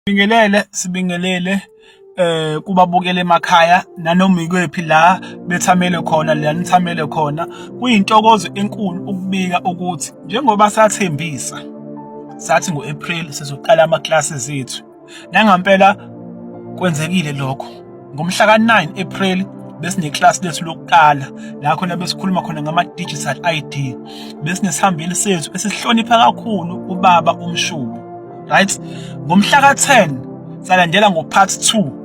Sibingelele sibingelele eh kubabukela emakhaya nanoma ikwephi la bethamele khona la nithamele khona kuyintokozo enkulu ukubika ukuthi njengoba sathembisa sathi ngoApril sizoqala ama classes ethu nangampela kwenzekile lokho ngomhla ka9 April besine class lethu lokuqala la khona besikhuluma khona ngama digital ID besinesihambeli sethu esihlonipha kakhulu ubaba umshubo right ngomhla ka-10 salandela ngo-part 2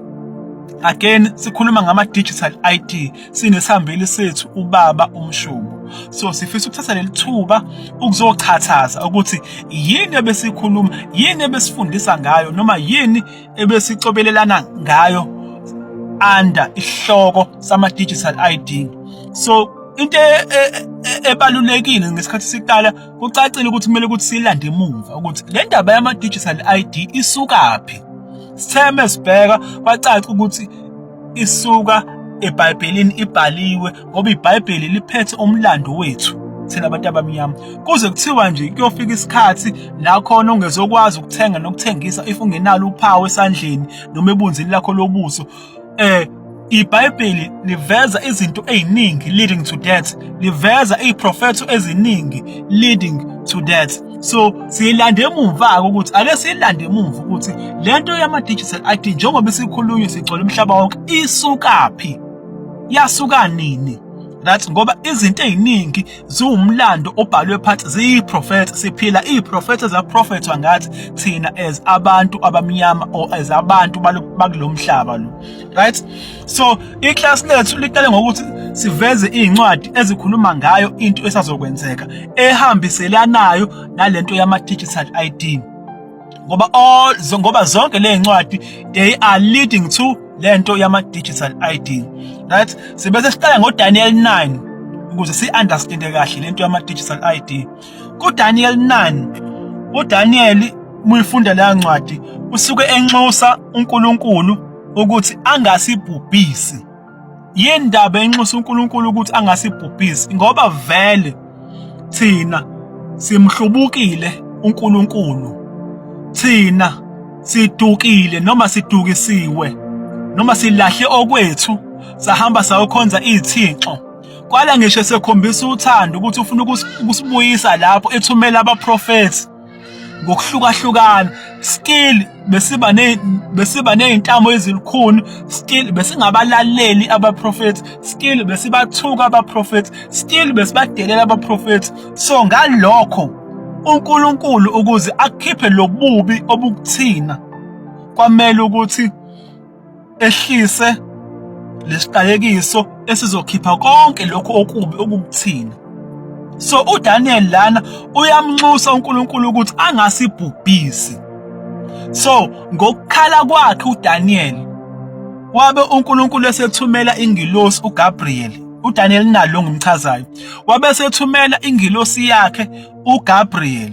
again sikhuluma ngama-digital id sinesihambeli sethu ubaba umshubo so sifisa ukuthatha leli thuba ukuzochachaza ukuthi yini ebesikhuluma yini ebesifundisa ngayo noma yini ebesicobelelana ngayo under isihloko sama-digital id so into e, e, e, ebalulekile ngesikhathi siqala Kucacile ukuthi kumele ukuthi silande emuva ukuthi le ndaba yama-digital ID isukaphi. Sitheme sibheka kwacaca ukuthi isuka eBhayibhelini ibhaliwe ngoba iBhayibheli liphethe umlando wethu thina abantu abamnyama kuze kuthiwa nje kuyofika isikhathi la khona ongezokwazi ukuthenga nokuthengisa if ungenalo uphawu esandleni noma ebunzini lakho lobuso eh iBhayibheli liveza izinto eziningi leading to death liveza iziprofetho eziningi leading to death so siyilande emuva ukuthi ake siyilande emuva ukuthi lento yama digital ID njengoba isikhulunywe sigcwele umhlaba wonke isukaphi yasuka nini that ngoba izinto eziningi ziwumlando obhalwe phansi ziyiprofetha siphila iyiprofetha zaprofethwa ngathi thina as abantu abamnyama or as abantu bakulomhlaba lo right so iclass lethu liqale ngokuthi siveze izincwadi ezikhuluma ngayo into esazokwenzeka ehambiselanayo nalento yama digital ID ngoba all ngoba zonke lezincwadi they are leading to lento yama digital ID right sibese siqala ngo Daniel 9 ukuze si understand kahle lento yama digital ID ku Daniel 9 u Daniel muyifunda leya ncwadi usuke enxusa uNkulunkulu ukuthi angasibhubhisi yini ndaba enxusa uNkulunkulu ukuthi angasibhubhisi ngoba vele thina simhlubukile uNkulunkulu thina sidukile noma sidukisiwe noma silahle okwethu sahamba sayokhonza izithixo kwala ngisho sekhombisa uthando ukuthi ufuna ukusibuyisa lapho ethumela abaprofethi ngokuhlukahlukana still besiba ne besiba nezintamo ezilukhuni still besingabalaleli abaprofethi still besibathuka abaprofethi still besibadelela abaprofethi so ngalokho uNkulunkulu ukuze akhiphe lobubi obukuthina kwamele ukuthi ehlise lesiqalekiso esizokhipha konke lokho okubi okukuthina so uDaniel lana uyamnxusa uNkulunkulu ukuthi angasibhubhisi so ngokukhala kwakhe uDaniel wabe uNkulunkulu esethumela ingilosi uGabriel uDaniel nalo ngimchazayo wabe sethumela ingilosi yakhe uGabriel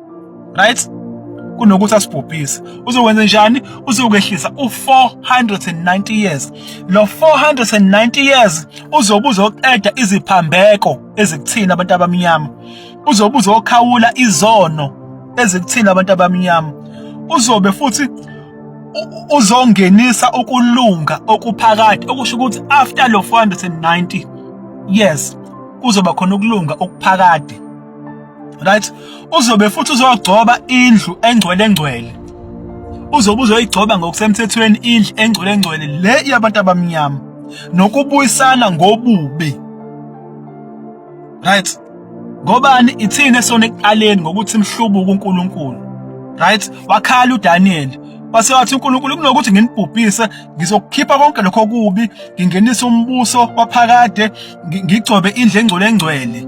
right kunokuthi asibhubhise uzokwenza njani uzokwehlisa u490 years lo 490 years uzobe uzoqeda iziphambeko ezikuthina abantu abamnyama uzobe uzokhawula izono ezikuthina abantu abamnyama uzobe futhi uzongenisa ukulunga okuphakade okusho ukuthi after lo 490 years kuzoba khona ukulunga okuphakade right uzobe futhi uzogcoba indlu engcwele ngcwele uzobe uzoyigcoba ngokusemthethweni indlu engcwele ngcwele le yabantu abamnyama nokubuyisana ngobubi right ngobani ithini esona ekuqaleni ngokuthi mhlubuka uNkulunkulu right wakhala uDaniel wase wathi uNkulunkulu kunokuthi nginibhubhise ngizokukhipha konke lokho kubi ngingenisa umbuso waphakade ngigcobe indle engcwele engcwele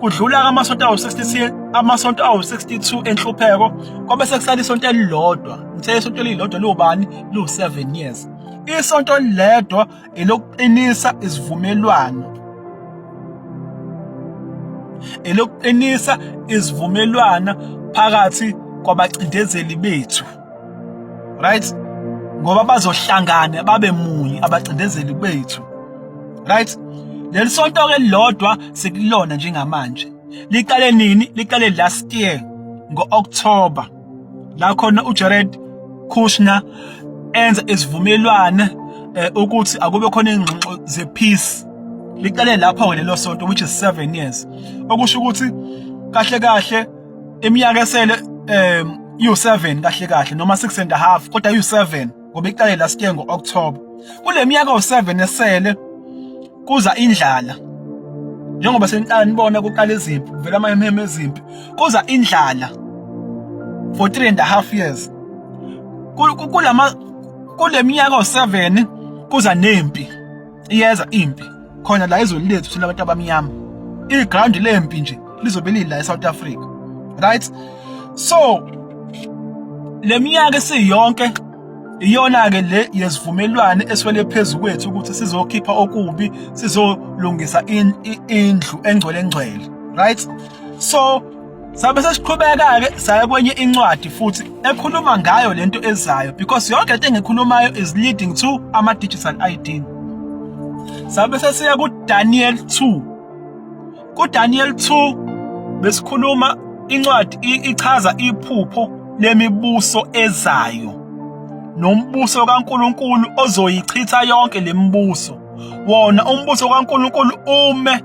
Kudlula amasonto awu-62 amasonto awu-62 enhlupheko kwabe sekusala isonto elilodwa. Ngithe isonto elilodwa liwubani? Liwu-7 years. Isonto elilodwa elokuqinisa isivumelwano. Elokuqinisa isivumelwana phakathi kwabacindezeli bethu. right ngoba bazohlangana babe munye abacindezeli bethu right leli sonto ke lilodwa sekulona njengamanje liqale nini liqale last year ngo-October la khona uJared Kushner enza isivumelwano eh, ukuthi akube khona ingxoxo ze peace liqale lapho ke lelo sonto which is 7 years okusho ukuthi kahle kahle iminyaka esele um iwu-7 kahle kahle noma 6 and a half kodwa iwu-7 ngoba iqale last year ngo-October kule minyaka u-7 esele kuza indlala njengoba seniqala nibona kuqala izimpi kuvela amahemheme ezimpi kuza indlala for 3 and a half years kulama kule minyaka u-7 kuza nempi iyeza impi khona la ezweni lethu thina abantu abamnyama iground lempi nje lizobe lila eSouth Africa right so leminyaka esiyonke iyona ke le yesivumelwane eswele phezulu kwethu ukuthi sizokhipha okubi sizolungisa indlu engcwele engcwele right so Sabe sesiqhubeka-ke saya kwenye incwadi futhi ekhuluma ngayo lento ezayo because yonke into engikhulumayo is leading to ama-digital ID. Sabe sesiya kuDaniel 2. KuDaniel 2 besikhuluma incwadi ichaza iphupho lemibuso ezayo. nombuso kaNkuluNkulu ozoyichitha yonke lemibuso wona umbuso kaNkuluNkulu ume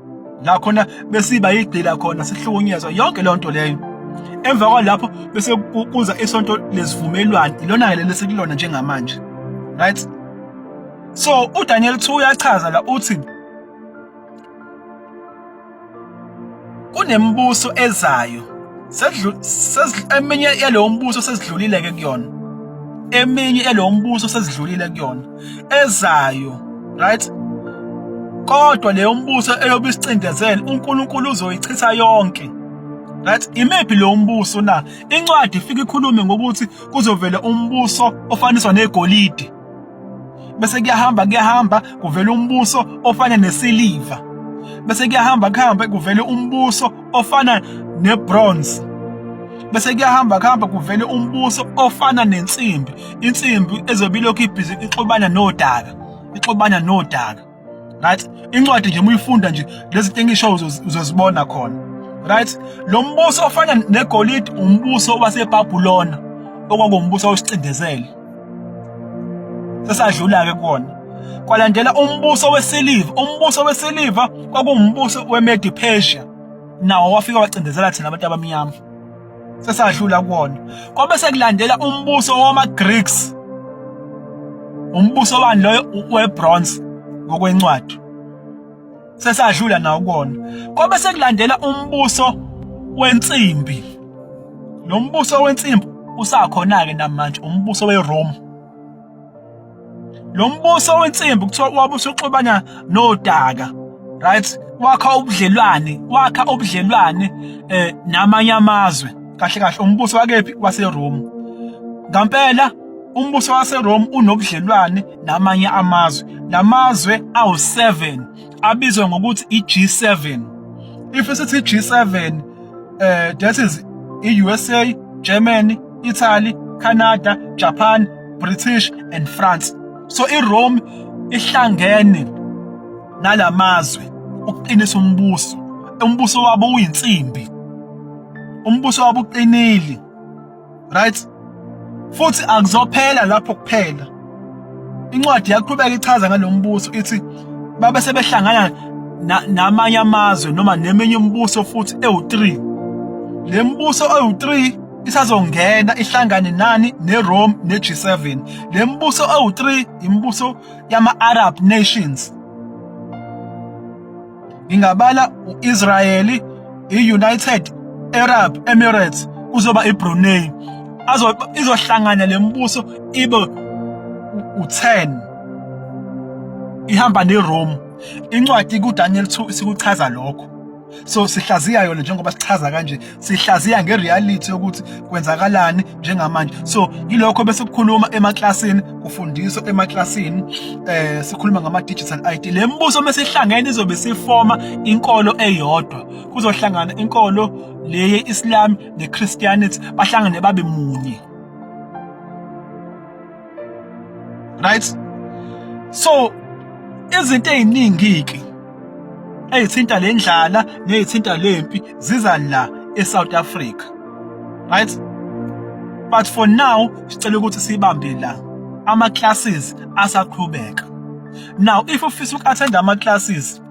la khona besiba yigcila khona sihlukunyezwa yonke leyo nto leyo emva kwalapho bese kuza isonto lesivumelwano ilona-ke leli sekulona njengamanje right so udaniel 2 uyachaza la uthi kunemibuso ezayo eminye yalowo mbuso sesidlulile-ke kuyona eminye yalowo mbuso sesidlulile kuyona ezayo right kodwa leyo mbuso eyobe isicindezele uNkulunkulu uzoyichitha yonke right imephi lo mbuso na incwadi ifika ikhulume ngokuthi kuzovela umbuso ofaniswa negolide bese kuyahamba kuyahamba kuvela umbuso ofana nesiliva bese kuyahamba kuhambe kuvele umbuso ofana nebronze bese kuyahamba kuhamba kuvele umbuso ofana nensimbi insimbi ezobe ilokhu ibhizi ixubana nodaka ixubana nodaka right incwadi nje muyifunda nje lezi zinto engisho uzozibona khona right lo mbuso ofana negolide umbuso waseBabulona okwangombuso wesicindezelo sesadlula-ke kuwona kwalandela umbuso wesiliva umbuso wesiliva kwakuwumbuso wemedi persia nawo wafika wacindezela thina abantu abamnyama sesadlula kuwona kwabe sekulandela umbuso wama-greeks umbuso wani loyo webronze ngokwencwadi sesadlula nawo kona kwabe sekulandela umbuso wensimbi lo mbuso wensimbi usakhona ke namanje umbuso weRome lo mbuso wensimbi kuthiwa wabe usuxubana nodaka right wakha ubudlelwane wakha ubudlelwane eh namanye amazwe kahle kahle umbuso wakephi waseRome ngampela Umbuso waseRome unobudlelwane namanye amazwe. Lamazwe awu7 abizwa ngokuthi iG7. If sithi G7 eh that is iUSA, Germany, Italy, Canada, Japan, British and France. So iRome ihlangene nalamazwe ukuqinisa umbuso. Umbuso wabo uyinsimbi. Umbuso wabo uqinile. right futhi akuzophela lapho kuphela incwadi yaqhubeka ichaza ngalombuso ithi babe sebehlangana namanye amazwe noma neminye umbuso futhi ewu3 lembuso ewu3 isazongena ihlangane nani neRome neG7 lembuso ewu3 imibuso yama Arab nations ngingabala u-israyeli i-united arab emirates kuzoba ibrunei izohlangana le mbuso ibe u-10 ihamba nerome incwadi kudaniel 2 isikuchaza lokho so sihlaziya yona njengoba sichaza kanje sihlaziya ngereality yokuthi kwenzakalani njengamanje so yilokho bese kukhuluma emaklasini kufundiswa emaklasini eh sikhuluma ngama digital ID le mbuso mesihlangene izobe sifoma inkolo eyodwa kuzohlangana inkolo leye Islam ne Christianity bahlangane babe munye right so izinto eziningi ke ezithinta le ndlala nezithinta lempi ziza la eSouth Africa right but for now sicela ukuthi sibambe la ama classes asaqhubeka now if ufisa uku attend ama classes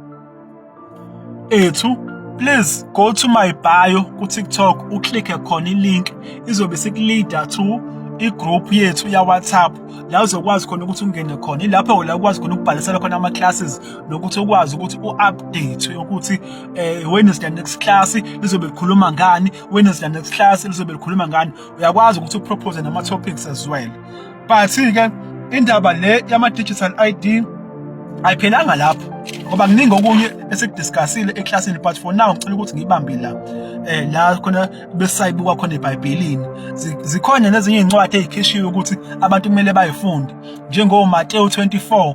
ethu please go to my bio ku TikTok uklikke khona ilink izobe sikuleader to igroup yethu ya WhatsApp la uzokwazi khona ukuthi ungene khona ilapho la ukwazi khona ukubhalisela khona ama classes nokuthi ukwazi ukuthi uupdate ukuthi eh when is the next class lizobe likhuluma ngani when is the next class lizobe likhuluma ngani uyakwazi ukuthi upropose nama topics as well but ke indaba le yama digital ID ayiphelanga lapho ngoba kuningi okunye esikudiscussile eclassini but for now ngicela ukuthi ngibambe la eh la khona besayibuka khona eBhayibhelini zikhona nezinye izincwadi ezikhishiwe ukuthi abantu kumele bayifunde njengo Matthew 24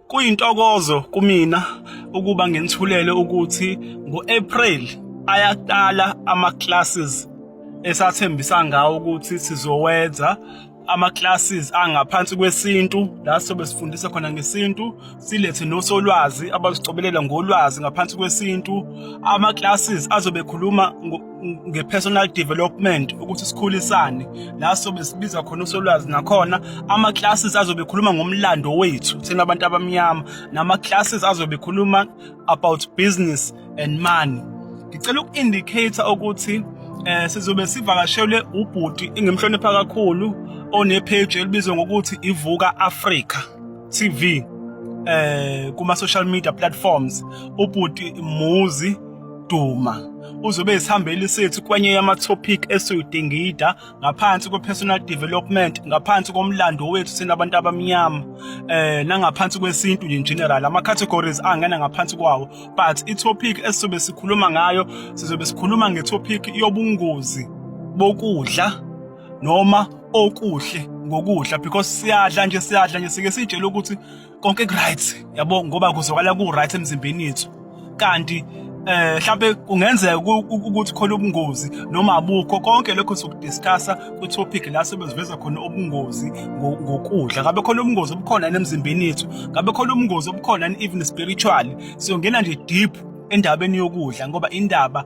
Kuyintokozo kumina ukuba nginithulele ukuthi ngo-April ayaqala ama-classes esathembisa ngawo ukuthi sizowenza ama-classes angaphansi kwesintu la sobe sifundisa khona ngesintu silethe nosolwazi abasicobelela ngolwazi ngaphansi kwesintu ama-classes azobe ekhuluma nge-personal development ukuthi sikhulisane la sobe sibiza khona usolwazi nakhona ama-classes azobe ekhuluma ngomlando wethu thina abantu abamnyama nama-classes azobe ekhuluma about business and money ngicela uku-indicator ukuthi eh sizobe sivakashelwe ubhuti engimhlonipha kakhulu onepage elibizwa ngokuthi ivuka Africa TV eh kuma social media platforms ubhuti Muzi Duma uzobe esihambeli sethu kwenye yama-topic esiyodingida ngaphansi kwe-personal development ngaphansi komlando wethu sina abantu abamnyama eh nangaphansi kwesintu in general ama-categories angena ngaphansi kwawo but i-topic esizobe sikhuluma ngayo sizobe sikhuluma nge-topic yobungozi bokudla noma okuhle ngokudla because siyadla nje siyadla nje sike sitshele ukuthi konke kuright yabo ngoba kuzwakala ku right emzimbeni yethu kanti eh mhlawumbe kungenzeka ukuthi khona ubungozi noma abukho konke lokho sokudiscussa ku topic la sebeziveza khona ubungozi ngokudla ngabe khona ubungozi obukhona emzimbeni yethu ngabe khona ubungozi obukhona even spiritually siyongena nje deep endabeni yokudla ngoba indaba